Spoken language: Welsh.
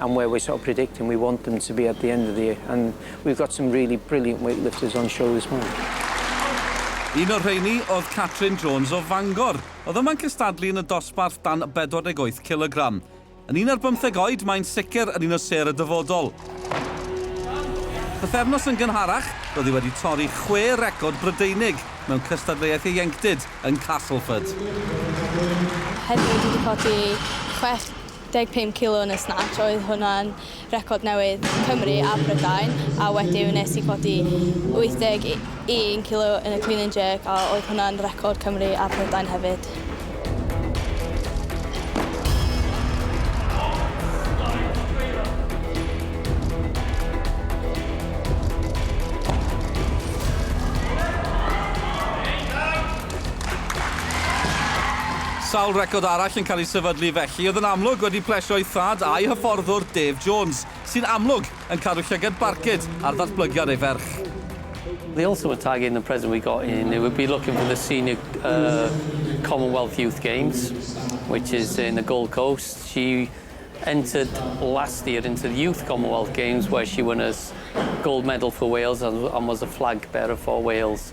and where we're sort of predicting we want them to be at the end of the year and we've got some really brilliant weightlifters on show this month. Un o'r rheini oedd Catrin Jones o Fangor. Oedd yma'n cystadlu yn y dosbarth dan 48 kilogram. Yn un ar bymtheg oed, mae'n sicr yn un o ser y dyfodol. Bythefnos yn gynharach, roedd hi wedi torri chwe record Brydeinig mewn cystadleuaeth ieuenctid yn Castleford. Heddiw dwi wedi codi chwech 15 kilo yn y snatch, oedd hwnna'n record newydd Cymru a Prydain, a wediw nes i codi 81 kilo yn y clean and jerk, a oedd hwnna'n record Cymru a Prydain hefyd. Sawl record arall yn cael ei sefydlu felly oedd yn amlwg wedi plesio ei thad a'i hyfforddwr Dave Jones, sy'n amlwg yn cadw llygad barcud ar ddatblygiad ei ferch. The ultimate target in the present we got in it would be looking for the senior err Commonwealth Youth Games which is in the Gold Coast. She entered last year into the Youth Commonwealth Games where she won a gold medal for Wales and was a flag bearer for Wales.